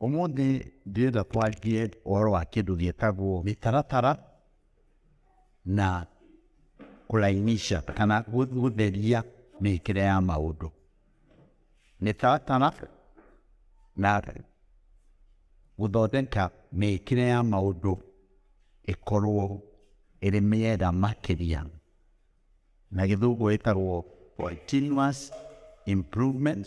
Ũmũthĩ ndĩrenda twarie ũhoro wa kĩndũ gĩtagwo mĩtaratara na kũlainisha kana gũtheria mĩkĩre ya maũndũ. Mĩtaratara na gũthondeka mĩkĩre ya maũndũ ĩkorwo ĩrĩ mĩega makĩria, na gĩthũngũ ĩtagwo continuous improvement.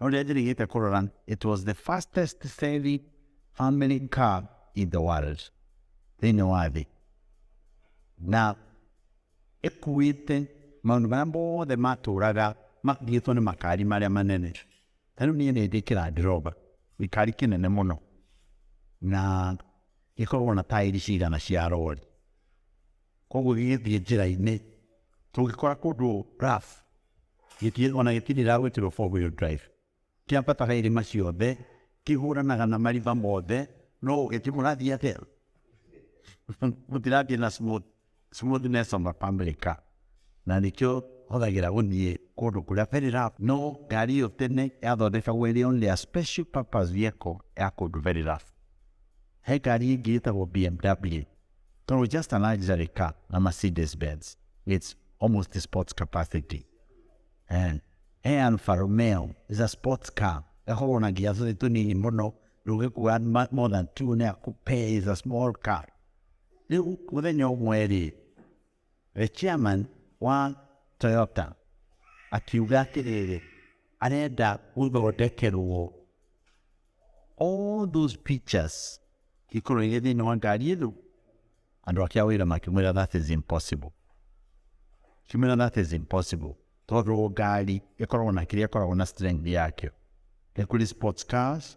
No rĩrĩa njĩrĩgĩte kũrora it was the fastest selling family car in the world thĩinĩ wa thĩ na ĩkuĩte maũndũ marĩa mothe matũraga makuĩtwo nĩ makari marĩa manene ta rĩu niĩ nĩ ndĩ kĩrandiroba gĩkari kĩnene mũno na gĩkoragwo na taĩri cigana cia rori Koguo gĩgĩthiĩ njĩra-inĩ, tũgĩkora kũndũ rough, gĩtirĩ ona gĩtirĩ gĩragwĩkĩrwo four wheel drive. Kĩambataga irĩma ciothe, kĩhũranaga na marima mothe, no ũgĩthiĩ mũrathiĩ atĩa? Mũtirathiĩ na smooth, smoothness of a family car. Na nĩkĩo hũthagĩra gũthiĩ kũndũ kũrĩa very rough. No ngari ĩyo tene yathondekagwo ĩrĩ only a special purpose vehicle ya kũndũ very rough. He ngari ĩngĩ ĩtagwo BMW. Então, we just analyze the car, a Mercedes-Benz. It's almost the sports capacity. And e Alfa Romeo is a sports car. Ĩkoragwo na nginya tũthĩ tũnini mũno, ndũngĩkua ma- more than two na ĩkũpee is a small car. Rĩu mũthenya ũmwe-rĩ, The chairman wa Toyota akiuga atĩrĩrĩ, arenda gũthondekerwo all those pictures ikorwo irĩ thĩinĩ wa ngari ĩno. Andũ ake a wĩra makĩmwĩra that is impossible, kimwĩra that is impossible tondũ ngari ĩkoragwo na kĩrĩa ĩkoragwo na strength yakĩo. Nĩ kũrĩ sports cars,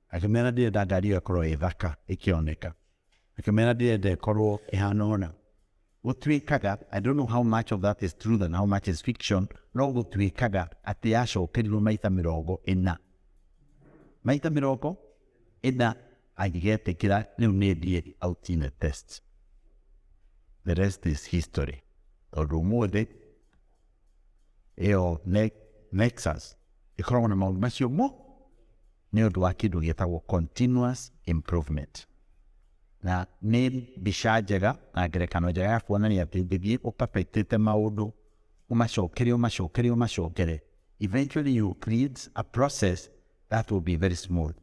Akĩmera ndirenda ngari ĩyo ĩkorwo ĩ thaka ĩkĩoneka akĩmera ndirenda ĩkorwo ĩhana ũna gũtuĩkaga I don't know how much of that is truth and how much is fiction no gũtuĩkaga atĩ yacokerirwo maita mĩrongo ĩna maita mĩrongo ĩna angĩgetĩkĩra rĩu nĩ ndiĩ out in a test the rest is history tondũ ũmũthĩ ĩyo Nexus ĩkoragwo na maũndũ macio mo nĩ ũndũ wa kĩndũ gĩtagwo continuous improvement na nĩ mbica njega na ngerekano njega ya kuonania atĩ ũngĩthiĩ ũperfectĩte maũndũ ũmacokere ũmacokere ũmacokere eventually you create a process that will be very smooth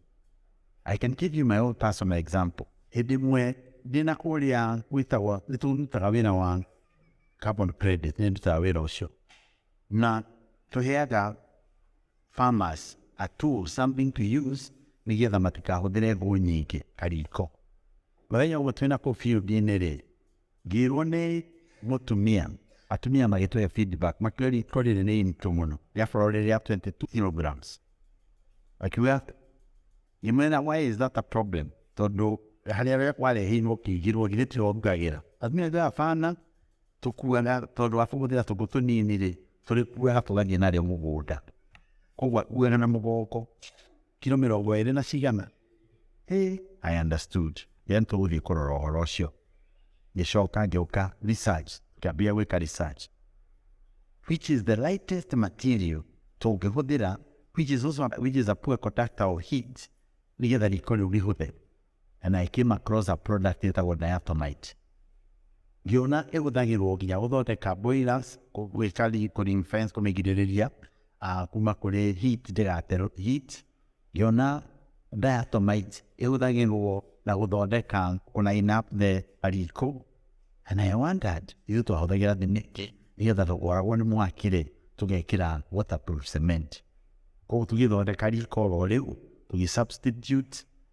I can give you my own personal example hĩndĩ ĩmwe ndĩ na kũrĩa gwĩtagwo nĩ tũrutaga wĩra wa carbon credit nĩ ndutaga wĩra ũcio na tũheaga Farmers a tool, something to use, nĩ getha matikahũthĩre ngũ nyingĩ, kariko. Mũthenya ũmwe twĩna kũu field-inĩ rĩ, ngĩrwo nĩ mũtumia, atumia magĩtũhe feedback, makiuga riko rĩrĩ nĩ iritũ mũno, rĩakorwo rĩrĩ rĩa 22 kilograms. Akiuga ngĩmwĩra why is that a problem, tondũ harĩa wareheirwo ũkĩigĩrwo githĩ tĩho ũrugagĩra? Atumia akiuga hapana, Tũkuaga tondũ wa kũhũthĩra tũkũ tũnini rĩ, tũrĩkuaga tũgathiĩ narĩo mũgũnda. Koguo akuaga na mũgongo kiro mĩrongo ĩrĩ na cigana. Hey, I understood. Then tũgũthiĩ kũrora ũhoro ũcio. Ngĩcoka ngĩũka research, ngĩambia gwĩka research. Which is the lightest material tũngĩhũthĩra which is also which is a poor conductor of heat nĩgetha riko rĩu rĩhũthe. na na ĩkĩma closer product ĩtagwo diatomite ngĩona ĩhũthagĩrwo nginya gũthondeka boilers gwĩka recording fence kũmĩgirĩrĩria ah, kuma kũrĩ heat ndĩgaterwo heat ngĩona diatomite ĩhũthagĩrwo na gũthondeka kũline up the riko and I wondered ithuĩ twahũthagĩra thimiti nĩgetha tũkoragwo nĩ mwakire tũgekĩra waterproof cement koguo tũgĩthondeka riko oro rĩu tũgĩ substitute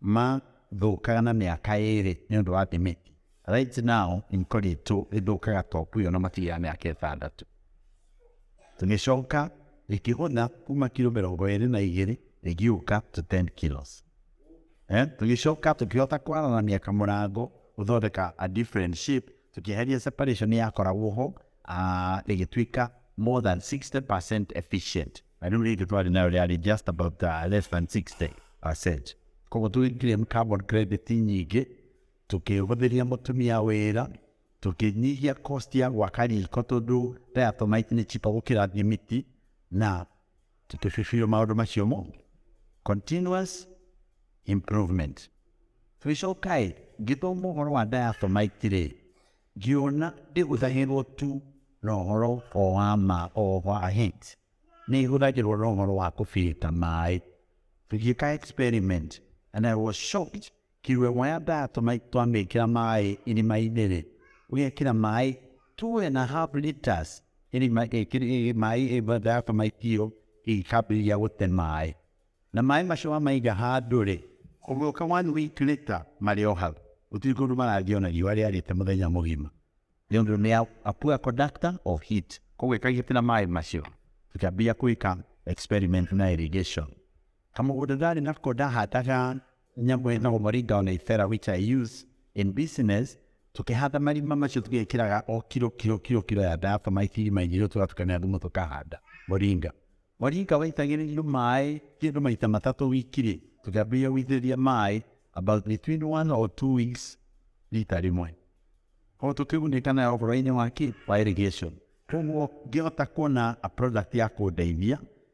mathũkaga na mĩaka ĩrĩ nĩ ũndũ wa thimiti right now ikoretwo ithũkaga topu ĩyo na makiri ya mĩaka ĩtandatũ tũgĩcoka ĩkĩhũtha kuma kiro mĩrongo ĩrĩ na igĩrĩ ĩgĩũka to 10 kilos eh? tũgĩcoka tũkĩhota kwaranania kamũrango gũthondeka a different shape tũkĩeheria separation yakoragwo ho ah, ĩgĩtuĩka more than 60% efficient I don't need to try to know that. It's just about uh, less than 60%. Koguo tũgĩclaim carbon credit nyingĩ tũkĩhũthĩria mũtumia wĩra tũkĩnyihia cost ya gwaka riko tondũ diatomite nĩ chipa gũkĩra thimiti na tũkĩbibirio maũndũ macio mo continuous improvement tũgĩcokaĩ ngĩthoma ũhoro wa diatomite rĩ Ngĩona ndĩhũthagĩrũo tu na ũhoro o wa ma o wa hit, nĩ ĩhũthagĩrũo na ũhoro wa kũbirita maĩ. Tũgĩka experiment and I was shocked, kĩrua ĩmwe ya diatomite twamĩkĩra maĩ irima-inĩ rĩ, ũgekĩra maĩ two and a half litres irima, maĩ diatomite ĩyo ĩkambĩrĩria gũte maĩ. Na maĩ macio wamaiga handũ-rĩ, ũgĩũka one week later marĩ o hau, gũtirĩ kũndũ marathiĩ ona riũa rĩarĩte mũthenya mũgima nĩ ũndũ nĩ a poor conductor of heat. Koguo ĩka gĩtĩ na maĩ macio, tũkĩambia gwĩka experiment na irrigation. Kamũgũnda ndarĩ nako ndahandaga Nĩngwenda gũmũringa o na ibera which I use in business tũkĩhanda marima macio tũgĩkĩraga o kiro kiro kiro kiro ya diatomaiti irima-inĩ rĩu tũgatukania thumu tũkahanda mũringa mũringa waitagĩrĩrio maĩ kĩndũ maita matatũ wiki rĩ tũkĩambĩrĩria gũitĩrĩria maĩ about between one or two weeks rita rĩmwe koguo tũkĩgunĩka nayo ũhoro-inĩ wa kĩ wa irrigation koguo ngĩhota kuona a product ya kũndeithia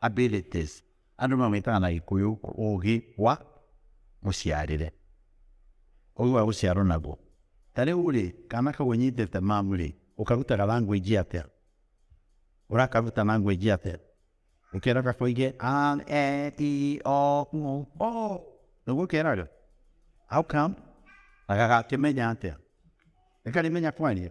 abilities, andũ mamwĩtaga na gĩkũyũ ũgĩ wa mũciarĩre ũgĩ wa gũciarwo naguo ta rĩu rĩ kana kau ũnyitĩte mamu rĩ ũkarutaga language atĩa ũrakaruta language atĩa ũkera gakoige a e i o u o nĩguo keraga how come na gagakĩmenya atĩa nĩkarĩmenya kwaria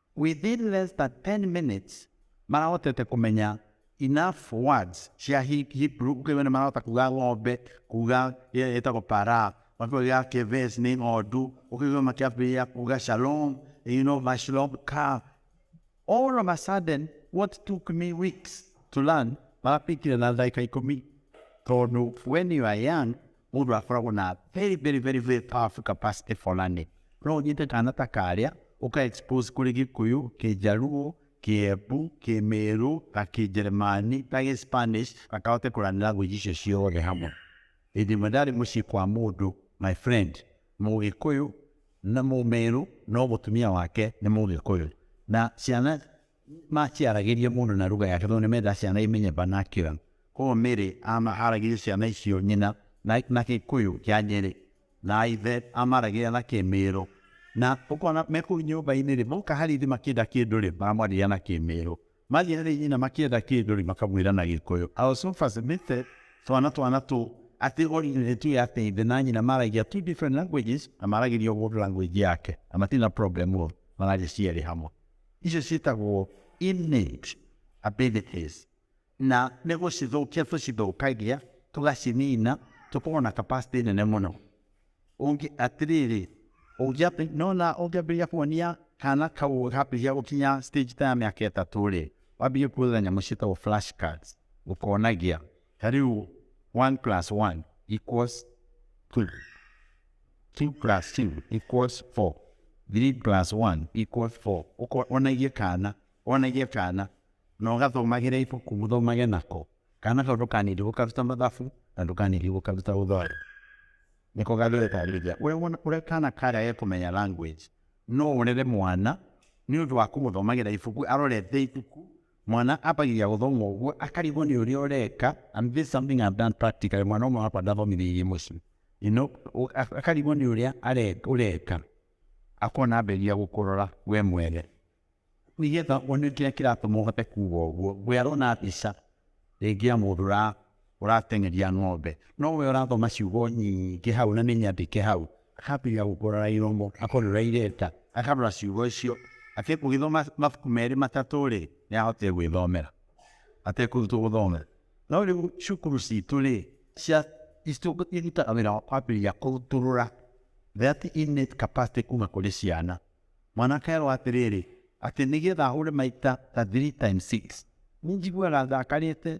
Within less than ten minutes marahotete kumenya enough words cia He- Hebrew uko iwe nimarahota kuga ng'ombe kuga ĩrĩa ĩtagwo para makiuga keves nĩ ng'ondu ũkĩigua makiambĩrĩria kuga shalom you know mashalom ka all of a sudden what took me weeks to learn marapikire na ndagĩka ikũmi tondũ when you are young Mũndũ akoragwo na very very very very powerful capacity fulani. No ũnyite kana ta karĩa ũka expose kũrĩ Gĩkũyũ, Kĩjaruo, Kĩembu, Kĩmĩrũ, na Kĩnjeremani, na Gĩspanish, na kahote kũrani language icio ciothe hamwe. Hĩndĩ ĩmwe ndarĩ mũciĩ kwa mũndũ, my friend, Mũgĩkũyũ na Mũmĩrũ, no mũtumia wake nĩ Mũgĩkũyũ. Na ciana Mati aragĩria mũndũ na ruga yake tondũ nĩ menda ciana imenye vernacular. Koguo Mary aragĩria ciana icio nyina na, na Gĩkũyũ kĩa Nyeri na ithe amaragĩria na Kĩmĩrũ na ũkona me kũu nyũmba-inĩ rĩ, moka harĩ ithe makĩenda kĩndũ rĩ, maramwarĩria na Kĩmĩrũ. Mathiĩ harĩ nyina makĩenda kĩndũ rĩ, makamwĩra na Gĩkũyũ. I was so fascinated twana twana tũu atĩ origin ĩtu ya atĩ ithe na nyina maragia two different languages na maragĩria o mũndũ language yake na matirĩ na problem o, mararia cierĩ hamwe. Icio ciĩtagwo innate abilities, na nĩ gũcithũkia tũcithũkagia tũgacinina tũkorwo na capacity nene mũno ũngĩ atĩrĩrĩ ũngĩambi nona ũngĩambĩrĩria kuonia kana kau gambĩrĩria gũkinya stage ta ya mĩaka ĩtatũ rĩ wambĩrĩrie kuonia nyamũ ciĩtagwo flash cards ũkonagia Ta rĩu one plus one equals two, two plus two equals four, three plus one equals four. Ũko- Wonagie kana, wonagie kana, na ũgathomagĩra ibuku ũthomage nako. Kana kau ndũkanindi gũkaruta mathabu, na ndũkanindi gũkaruta gũthweri. Nĩko gagĩgũtarĩria. Ũrĩa wona, ũrĩa kana karega kũmenya language, no ũrere mwana, nĩ ũndũ wa kũmũthomagĩra ibuku, arorete ibuku, Mwana abagia guthoma uguo akarigwo ni uria ureka and this something I've done practically mwana umwe wakwa ndathomithiririe mucii you know akarigwo ni uria ureka akona amberia gukurora we mwere nigetha one kiria kiratuma uhote kuga uguo we arona mbica ringi ya mundu ũrateng'eria ng'ombe, no we ũrathoma ciugo nyingĩ hau na nĩ nyandĩke hau, akambĩrĩria gũkũrora iromo, akorora irenda, akarora ciugo icio, atekũgĩthoma mabuku merĩ matatũ-rĩ, nĩ ahotire gwĩthomera atekũrutwo gũthomera. No rĩu cukuru citũ-rĩ, cia irutaga wĩra wa kwambĩrĩria kũrutũrũra that innate capacity kuma kũrĩ ciana. Mwana akerwo atĩrĩrĩ, atĩ nĩgetha ahũre maita ta three times six, nĩ njiguaga ndakarĩte,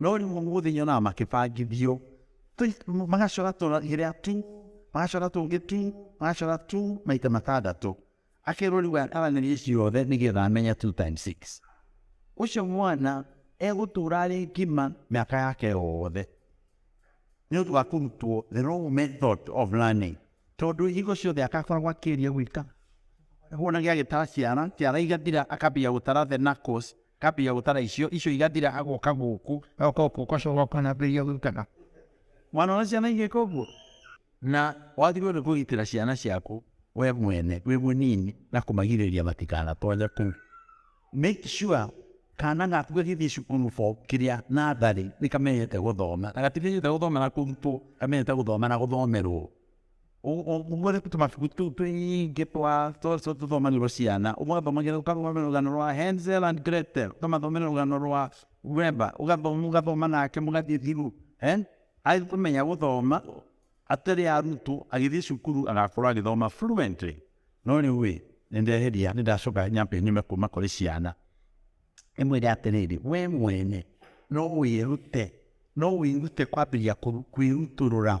no rĩu ũmũthĩ nyonaga makĩbangithio Tũ- magacora tũrĩa tu magacora tũngĩ tu magacora tu maita matandatũ akerwo rĩu ataranĩrie ciothe nĩgetha amenye two times six ũcio mwana egũtũra arĩ ngima mĩaka yake yothe nĩ ũndũ wa kũrutwo the wrong method of learning tondũ hingo ciothe akakoragwo akĩria gwĩka wona gĩagĩtara ciara ciara igathira akambia gũtara the knuckles Ndambĩrĩria gũtara icio, icio igathira agoka gũkũ, agoka gũkũ ũgacoka ũkanambĩrĩria gũikana. Mwana ona ciana igĩka ũguo. Na wagĩrĩirwo nĩ kũgitĩra ciana ciaku we mwene wĩ mũnini na kũmagirĩrĩria matikanatonye kũu. Make sure kana gaku gagĩthiĩ cukuru form kĩrĩa natharĩ nĩkamenyete gũthoma na gatimenyete gũthoma na kũrutwo, kamenyete gũthoma na gũthomerwo. Umwene kuti mafiku tu tu i ge tu a to so tu thoma ni Luciana umwe thoma ge uka thoma ni rugano rwa Hansel and Gretel uka mathoma ni rugano rwa Wemba uka thoma uka thoma nake mugathie thiru eh athie kumenya guthoma atari arutu agithie cukuru agakorwo agithoma fluently no riu wi nindeheria nindacoka nyambe nyume kuma kuri ciana imwire atiriri we mwene no wirute no wirute kwambiria kwiruturura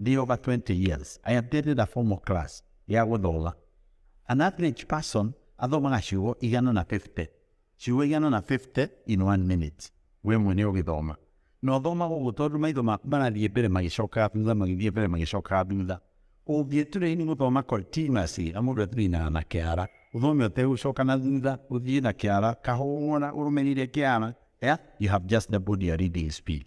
Ndĩ over 20 years. I attended a formal class ya gũthoma. An average person athomaga ciugo igana na 50. Ciugo igana na 50 in one minute. We mwene ũgĩthoma. Na ũthomaga ũguo tondũ maitho maku marathiĩ mbere magĩcokaga thutha magĩthiĩ mbere magĩcokaga thutha. Ũngĩturaini gũthoma continuously na mũndũ aturainaga na kĩara. Ũthome ũtegũcoka na thutha, ũthiĩ na kĩara, kahũũra ũrũmĩrĩire kĩara, yeah? You have just doubled your reading speed.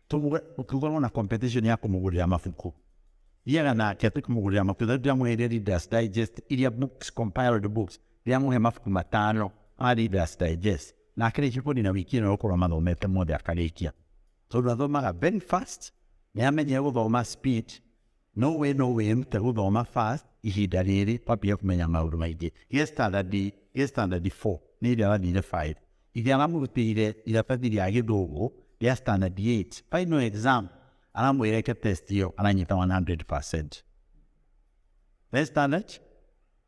Tũmũge ũngĩkorwo na competition ya kũmũgũrĩra mabuku, thiaga nake tũkĩmũgũrĩra mabuku. Tarĩu ndĩramũheire Reader's Digest iria books, compiled books, ndĩramũhe mabuku matano ma Reader's Digest, na akĩrĩkia kũnina wiki ĩno gũkorwo amathomete mothe akarĩkia, tondũ athomaga very fast, nĩ amenyere gũthoma speed, No way no way nĩtũgũthoma fast ihinda rĩrĩ twambie kũmenya maũndũ maingĩ gĩa standard gĩa standard 4 nĩ ĩrĩa wathire 5 ithe aramũrutĩire iratathi rĩa gĩthũngũ rĩa standard 8 final exam aramwĩra eke test ĩyo aranyita 100% Rĩa standard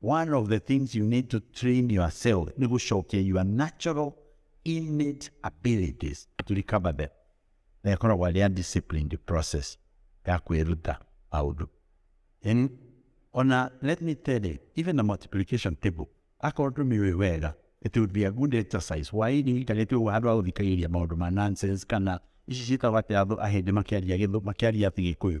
One of the things you need to train yourself ni gũcokia your natural innate abilities to recover them na ĩkoragwo arĩ undisciplined process ya kwĩruta maũndũ Yaani, ona let me tell you even the multiplication table akorwo tũmĩũĩ wega it would be a good exercise why nĩikarĩte ũguo handũ ha gũthikagĩrĩria maũndũ ma nonsense kana ici ciĩtagwo atĩ andũ ahĩndĩ makĩaria gĩthũ makĩaria atĩ gĩkũyũ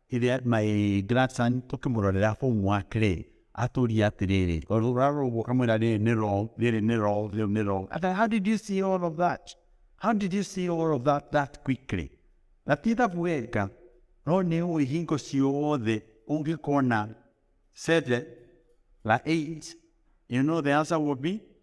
Rĩrĩa my grandson tũkĩmũrorera homework rĩ, atũria atĩrĩrĩ, ũrarora ũguo ũkamwĩra rĩrĩ nĩ wrong, rĩrĩ nĩ wrong, rĩu nĩ wrong. Ata, how did you see all of that? How did you see all of that that quickly? Na ti ithabu weka, no nĩ ũĩ hingo ciothe ũngĩkona seven na eight, you know the answer will be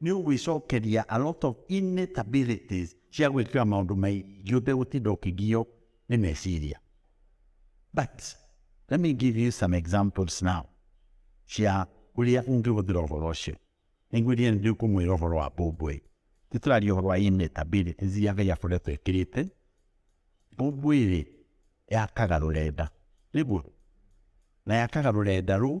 New we sokeria a lot of innate abilities cia gwĩkĩra maũndũ maingĩ ũtegũtinda ũkĩgio nĩ meciria but let me give you some examples now cia ũrĩa ũngĩhũthĩra ũhoro ũcio nĩngwĩria nĩ ndĩkũmwĩra ũhoro wa mbũmbũĩ nĩ tũraria ũhoro wa innate abilities iria ngai akoretwo ĩkĩrĩte mbũmbũĩ rĩ yakaga rũrenda nĩguo na yakaga rũrenda rũu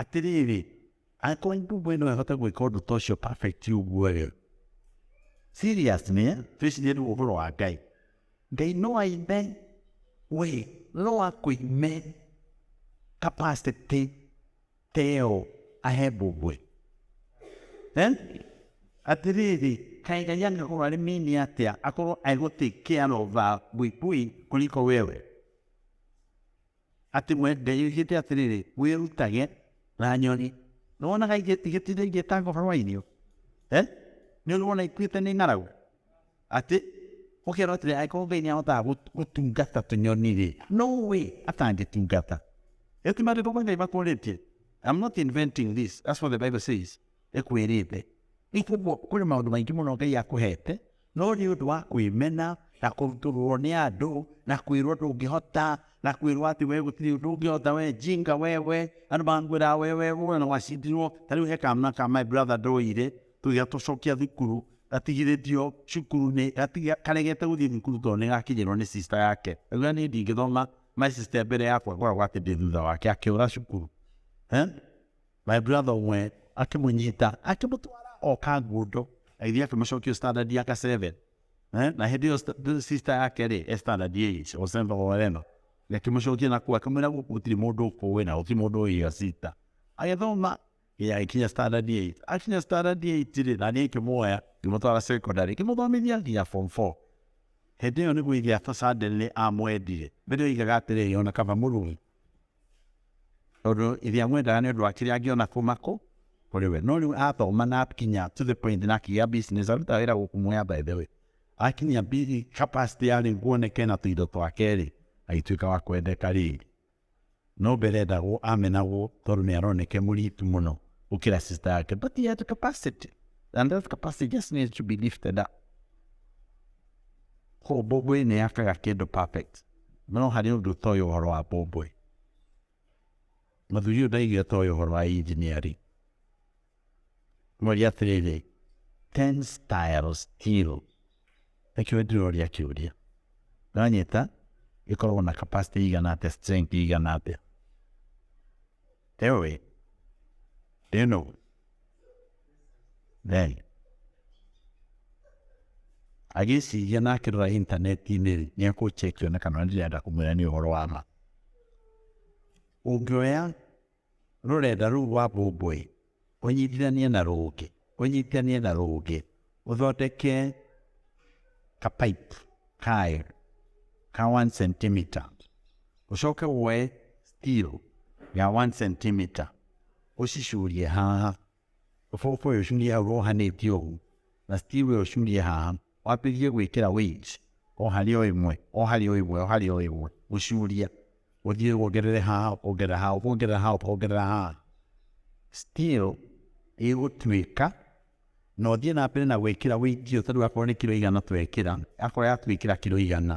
Atĩrĩrĩ, angĩkorwo ndungũ ĩno ĩhote gwĩka ũndũ ta ũcio perfect ũguo rĩ, seriously eh, twĩcirie rĩu ũhoro wa Ngai. Ngai no aime we, no akũime capacity ta ĩyo ahe mbũmbwe eh? atĩrĩrĩ kaĩ ngai angĩkorwo arĩ mini atĩa akorwo aigũtĩkĩarova buibui kũriko wewe Atĩ we Ngai oigĩte atĩrĩrĩ, wĩrutage na nyoni. Nĩ wonaga igĩtinde igĩtanga ũhoro wa irio? Eh? Nĩ ũrĩ wona ikuĩte nĩ ng'aragu? Atĩ ũkera atĩrĩ angĩkorwo Ngai nĩ ahotaga gũtungata tũnyoni-rĩ, no we atangĩtungata. Ĩyo ti maandĩko ma Ngai makũrĩtie. I'm not inventing this. That's what the Bible says. Ĩkwĩrĩte. Nĩ kũguo kũrĩ maũndũ maingĩ mũno Ngai akũhete No nĩ ũndũ wa kwĩmena na kũrutũrũrwo nĩ andũ na kwĩrwo ndũngĩhota na kwĩrwo atĩ we gũtirĩ ũndũ ũngĩhota we jinga wewe andũ makwĩraga we we we na wacindirwo ta rĩu he kamna ka my brother ndoire tũgĩa tũcokia thukuru gatigithĩtio cukuru-inĩ gatiga karegete gũthiĩ thukuru tondũ nĩ gakinyĩrwo nĩ sister yake augĩra niĩ ndingĩthoma my sister mbere yakwa ngoragwo atĩ ndĩ thutha wake akĩũra cukuru eh? My brother ũmwe akĩmũnyita akĩmũtwara o kangundo agĩthiĩ akĩmũcokia standard ya ka 7 eh? na hĩndĩ ĩyo sister yake rĩ e standard 8 Osenda Oreno akĩmũcokia na kuo akĩmwĩra gũkũ gũtirĩ mũndũ ũkũĩ na gũtirĩ mũndũ ũyĩa sister agĩthoma akinya standard 8 akinya standard 8 rĩ na niĩ ngĩmuoya ngĩmũtwara secondary ngĩmũthomithia nginya form 4 hĩndĩ ĩyo nĩguo ithe afasadele amwendire mbere oigaga atĩrĩrĩ ona kaba mũrũi Tondũ ithe amwendaga nĩ ũndũ wa kĩrĩa angĩona kuma kũ kũrĩ we. No rĩu athoma na akinya to the point na akĩgĩa business arutaga wĩra gũkũ Mwea by the way. Akinyia bi- capacity ya rĩu kuoneka ena tũindo twake rĩ, agĩtuĩka wa kwendeka rĩngĩ. No mbere endagwo amenagwo tondũ nĩ aroneke mũritu mũno gũkĩra sister yake but he had capacity and that capacity just needs to be lifted up. Koguo Ngũĩ nĩ yakaga kĩndũ perfect. no harĩ ũndũ ũtoĩ ũhoro wa mbũmbũĩ. Mũthuri ũyũ ndaigĩ ũtoĩ ũhoro wa engineering. Mwaria atĩrĩrĩ, tensile steel nĩkĩo ndĩroria kĩũria. Nĩwanyita ĩkoragwo na capacity igana atĩa, strength igana atĩa? Ewe, ndĩno Naazire agĩĩciria na akĩrora intaneti-inĩ rĩ, nĩ ekũ check one kana ũrĩa ndĩrenda kũmwĩra nĩ ũhoro wa ma. Ũngĩoya rũrenda rũu rwa Bombũĩ ũnyitithanie na rũngĩ ũnyitithanie na rũngĩ ũthondeke ka pipe kayo ka one centimeter ũcoke woe steel ya one centimeter ũcicurie haha Ũbũbũĩ ũcurie hau wohanĩtie ũguo, na Steve ũcurie haha, wambĩrĩrie gwĩkĩra weights o harĩ o ĩmwe, o harĩ o ĩmwe, o harĩ o ĩmwe, gũcuria, ũthiĩ wongerere haha, wongerera haha, wongerera haha, wongerera haha, still ĩgũtuĩka, na ũthiĩ na mbere na gwĩkĩra weight ĩyo, ta rĩu akorwo nĩ kiro igana twekĩra, akorwo yatuĩkĩra kiro igana.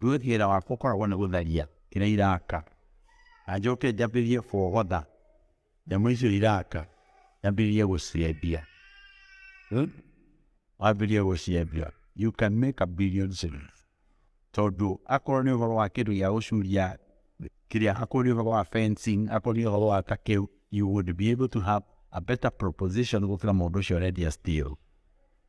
Rĩu wĩra wakwa ũkoragwo nĩ gũtharia kĩrĩa iraka, na njoke njambĩrĩrie kũogotha nyamũ icio iraka, njambĩrĩrie gũciendia. Hmm? Wambĩrĩrie gũciendia, you can make a billion shillings. Tondũ akorwo nĩ ũhoro wa kĩndũ gĩa gũcuria kĩrĩa, akorwo nĩ ũhoro wa fencing, akorwo nĩ ũhoro wa ta kĩu, you would be able to have a better proposition gũkĩra mũndũ ũcio ũrendia steel.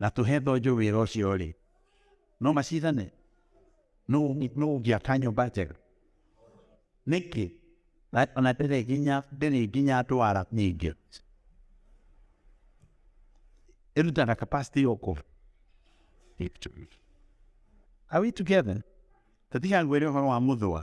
na tũhe thonjo wĩra ũcio rĩ no macindane no ũngĩaka nyũmba njega nĩkĩ ona ndĩrĩ nginya ndĩrĩ nginya ndwara nyingĩ ĩrutaga capacity yoko are we together tatiga ngwĩre ũhoro wa mũthũa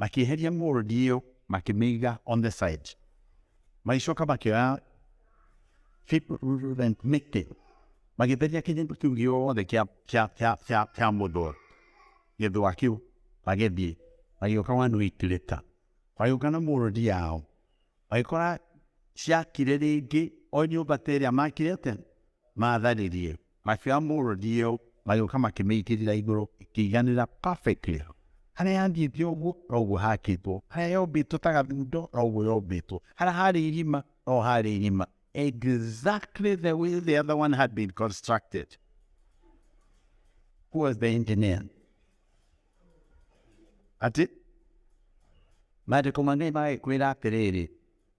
makĩeheria mold ĩyo makĩmĩiga on the side magĩcoka makĩoya mĩtĩ magĩtheria kĩnyĩmba kĩu gĩothe kĩa mũthũa gĩthũa kĩu magĩthiĩ magĩũka one week later magĩũka na mold yao magĩkora ciakire rĩngĩ o nyũmba ta ĩrĩa makire tene matharĩrie Macio a mũrũ ndiyo magĩũka makĩmĩitĩrĩra igũrũ ĩkĩiganĩra perfectly harĩa yathiĩte ũguo noguo hakĩtwo harĩa yombĩtwo ta gathundo noguo yombĩtwo harĩa harĩ irima no harĩ irima exactly the way the other one had been constructed who was the engineer ati maandĩko manene magĩkwĩra atĩrĩrĩ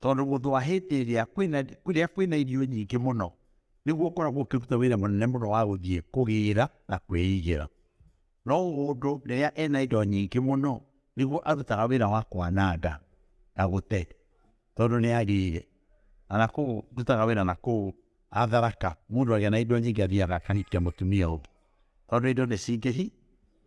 tondũ mũndũ wa hĩndĩ ĩrĩa kwĩna kũrĩa kwĩna irio nyingĩ mũno nĩguo ũkoragwo ũkĩruta wĩra mũnene mũno wa gũthiĩ kũgĩra na kwĩigĩra no mũndũ rĩrĩa ena indo nyingĩ mũno nĩguo arutaga wĩra wa kwananga na gũte tondũ nĩ agĩire kana kũu ndutaga wĩra na kũu atharaka mũndũ agĩa na indo nyingĩ athiaga akahikia mũtumia ũngĩ tondũ indo nĩ cingĩhi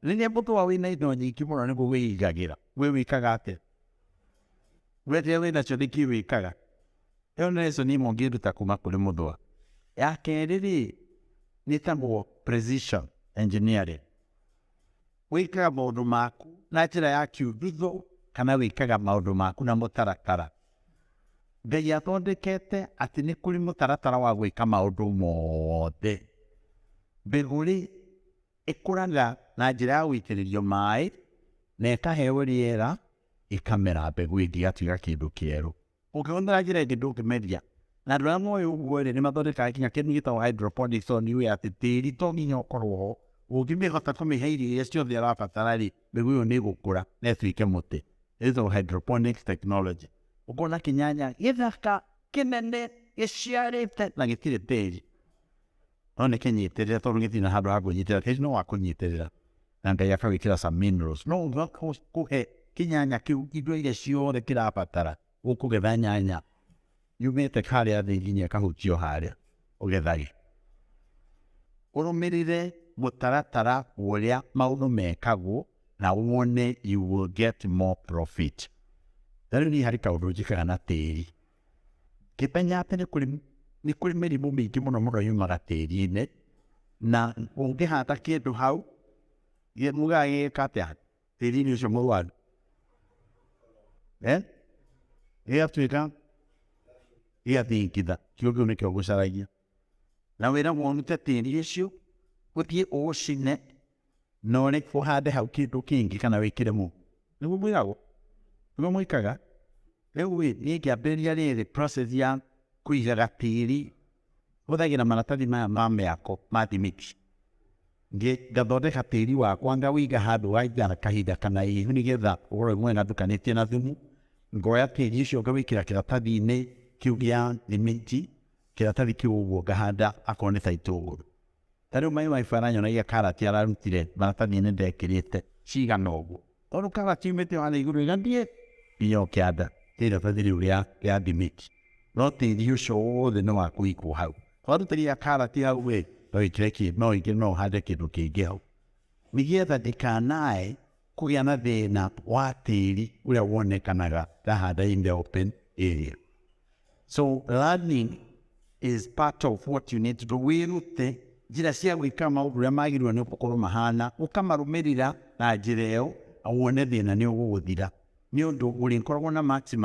Rĩrĩa mũthũa wĩna indo nyingĩ mũno nĩguo wĩigagĩra, we wĩkaga atĩa? We rĩrĩa wĩnacio nĩkĩ wĩkaga? Ĩyo nĩ lesson ĩmwe ũngĩruta kuma kũrĩ mũthũa. Ya kerĩ rĩ, nĩtagwo precision engineering. Wĩkaga maũndũ maku na njĩra ya kĩũthitho kana wĩkaga maũndũ maku na mũtaratara. Ngai athondekete atĩ nĩ kũrĩ mũtaratara wa gwĩka maũndũ mothe. Mbegũ rĩ, Ĩkũraga na njĩra ya gũitĩrĩrio maĩ na ĩkaheo rĩera ĩkamera mbegũ ĩngĩ ĩgatiga kĩndũ kĩerũ. Ũngĩhũthĩra njĩra ĩngĩ ndũngĩmeria. Na andũ arĩa moĩ ũguo rĩ, nĩ mathondekaga nginya kĩndũ gĩtagwo hydroponics tondũ nĩũĩ atĩ tĩri to nginya ũkorwo ho. Ũngĩhota kũmĩhe irio iria ciothe ĩrabatara rĩ, mbegũ ĩyo nĩ ĩgũkũra na ĩtuĩke mũtĩ. Ĩyo ĩtagwo hydroponics technology. Ũkona kĩnyanya gĩthaka, kĩnene, gĩciarĩte na gĩtirĩ tĩri. no nĩ kĩnyitĩrĩre tondũ gĩtirĩ na handũ ha kwĩnyitĩrĩra tĩri no wa kũnyitĩrĩra na ngai akawĩkĩra some minerals no ũga kũhe kĩnyanya kĩu indo iria ciothe kĩrabatara ũkũgetha nyanya yumĩte harĩa thĩ nginya ĩkahutio harĩa ũgethage ũrũmĩrĩre mũtaratara ũrĩa maũndũ mekagwo na wone you will get more profit. Rĩu niĩ harĩ kaũndũ njĩkaga na tĩri Ngĩmenya atĩ nĩ kũrĩ nĩ kũrĩ mĩrimũ mĩingĩ mũno mũno yumaga tĩri-inĩ, na ũngĩhanda kĩndũ hau, gĩ- mugaga gĩgĩka atĩa tĩri-inĩ ũcio mũrwaru Eh? gĩgatuĩka gĩgathingitha kĩo kĩu nĩkĩo gũcaragia na wĩragwo ũrute tĩri ũcio ũthiĩ ũũcine na ũrĩ ũhande hau kĩndũ kĩngĩ kana wĩkĩre mu nĩguo mwĩkagwo nĩguo mwĩkaga rĩu rĩ niĩ ngĩambĩrĩria rĩrĩ process ya kũigaga tĩri hũthagĩra maratathi maya ma mĩako ma thimiti ngathondeka tĩri wakwa ngawĩiga handũ waigana kahinda kana ihu nĩgetha ũrore mwena ndukanĩtie na thumu ngoya tĩri ũcio ngawĩkĩra kĩratathi-inĩ kĩu gĩa thimiti kĩratathi kĩu ũguo ngahanda akorwo nĩ ta itũngũrũ Ta rĩu Mai Wifi aranyonagia karati ararutire maratathi nĩ ndekĩrĩte cigana ũguo. Tondũ karati yumĩte o harĩa igũrũ ĩgathiĩ nginya o kĩanda nĩ iratathi rĩu rĩa rĩa thimiti. No tĩri ũcio wothe nĩ wa kũigwo hau. Twarutĩria karati hau rĩ, no ĩkĩre kĩ no ĩkĩre no ũhande kĩndũ kĩngĩ hau. Nĩgetha ndĩkanae kũgĩa na thĩna wa tĩri ũrĩa wonekanaga ndahanda in the open area. so learning is part of what you need to do wĩrute njĩra cia gwĩka maũndũ ũrĩa magĩrĩirwo nĩ gũkorwo mahana ũkamarũmĩrĩra na njĩra ĩyo wone thĩna nĩ ũgũgũthira nĩ ũndũ ũrĩkoragwo na maximum